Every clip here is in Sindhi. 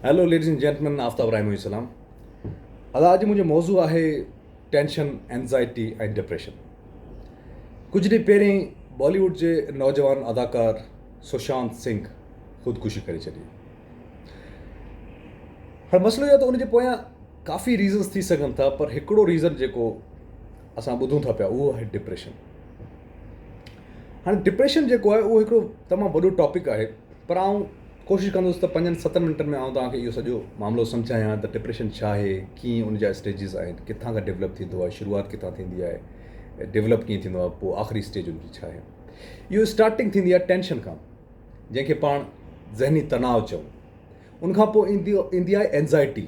Hello ladies and gentlemen Aftab Rahi منهنجي سلام ادا اڄ منهنجو موضوع آهي ٽينشن اينزائٽي ۽ ڊپريشن ڪجهه ڏينهن پهرين بالي ووڊ جي نوجوان اداڪار سشانت سنگھ خودڪشي ڪري ڇڏي هاڻي مسئلو اهو ته ان جي پويان ڪافي ريزنس ٿي سگهن ٿا پر هڪڙو ريزن جيڪو اسان ٻڌون ٿا پيا اهو آهي ڊپريشن هاڻي ڊپريشن جيڪو آهي اهو هڪڙو تمام وڏو ٽاپڪ آهي پر آئون ڪوشش ڪندس ته پنجن ستن منٽن ۾ آئون توهان کي اهو سڄو معاملو سمجهايان ته ڊپريشن ڇا آهي، ڪيئن ان جا اسٽيجز آهن، ڪٿان کان ڊولپ ٿيندو آهي، شروعات ڪٿان ٿيندي آهي، ڊولپ ڪيئن ٿيندو آهي، پوء آخري اسٽيج ان جي ڇا آهي. اهو اسٽارٽنگ ٿيندي آهي ٽينشن کان جنهن کي پاڻ ذهني تناء چئون. ان کان پوء ايندي آهي اينزائٽي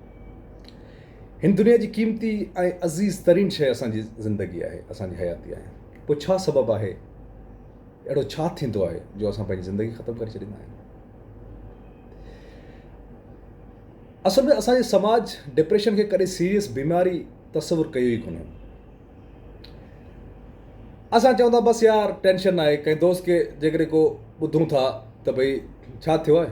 هن دنيا جي قيمتي ۽ عزيز ترين شيء اسان جي زندگي آهي، اسان جي حياتي آهي. پوء ڇا سبب آهي، اهڙو ڇا ٿيندو آهي جو اسان پنهنجي زندگي ختم ڪري ڇڏيندا آهيون؟ اصل ۾ اسان جي سماج ڊپريشن کي ڪڏهن سيريس بيماري تصور ڪيو ئي ڪونهي. اسان چون ٿا بس يار ٽينشن آهي، ڪنهن دوست کي جيڪڏهن ڪو ٻڌون ٿا ته ڀئي ڇا ٿيو آهي؟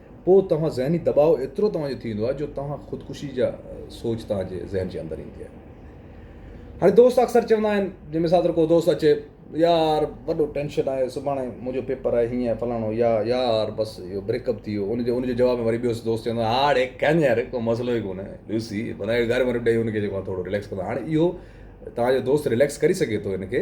پوء توهان ذهني دٻاء ايترو توهان جو ٿي ويندو آهي جو توهان خودڪشي جا سوچ توهان جي ذهن جي اندر ايندي آهي. هاڻي دوست اڪثر چوندا آهن جي مثال طور ڪو دوست اچي يار وڏو ٽينشن آهي سڀاڻي منهنجو پيپر آهي هيئن فلاڻو يا يار بس اهو بريڪ اپ ٿي ويو ان جو ان جو جواب ۾ وري ٻيو دوست چوندو آهي هاڙي ڪن يار ڪو مسئلو ئي ڪونه لوسي بنائي گهر وري ڏئي ان کي جيڪو ٿورو رليڪس ڪندو آهي هاڻي اهو توهان جو دوست رليڪس ڪري سگهي ٿو ان کي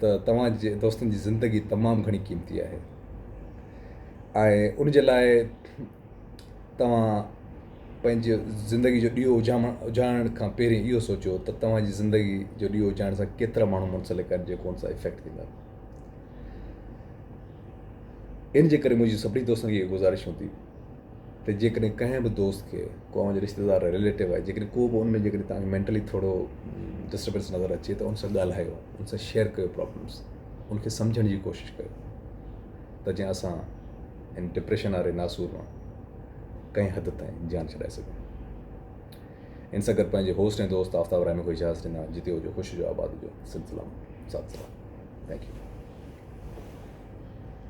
ته توهان جي دوستن جي زندگي تمام گهڻي قيمتي آهي ۽ ان جي لاء توهان پنهنجي زندگي جو ڏيئو اجهام اجهائڻ کان پهرين اهو سوچو ته توهان جي زندگي جو ڏيئو اجهائڻ سان ڪيترا ماڻهو منسلڪ آهن جيڪو ان سان افيڪٽ ٿيندا ان جي ڪري منهنجي سڀني دوستن کي اهو گذارش هوندي ته جيڪڏهن ڪنهن به دوست کي ڪو اوهان جو رشتيدار آهي رليٽو آهي جيڪڏهن ڪو به ان ۾ جيڪڏهن تهان کي مينٽلي ٿورو ڊسٽربنس نظر اچي ته ان سان ڳالهايو ان سان شيئر ڪيو پرابلمس ان کي سمجهڻ جي ڪوشش ڪيو ته جيئن اسان ان ڊپريشن واري ناسور مان ڪنهن حد تائين جان ڇڏائي سگهون ان سان گڏ پنهنجي هوسٽ ۽ دوست آفتاب رحمي کي اجازت ڏنا جتي هجو خوش جو آباد جو سلسلام سات سلام ٿينڪ يو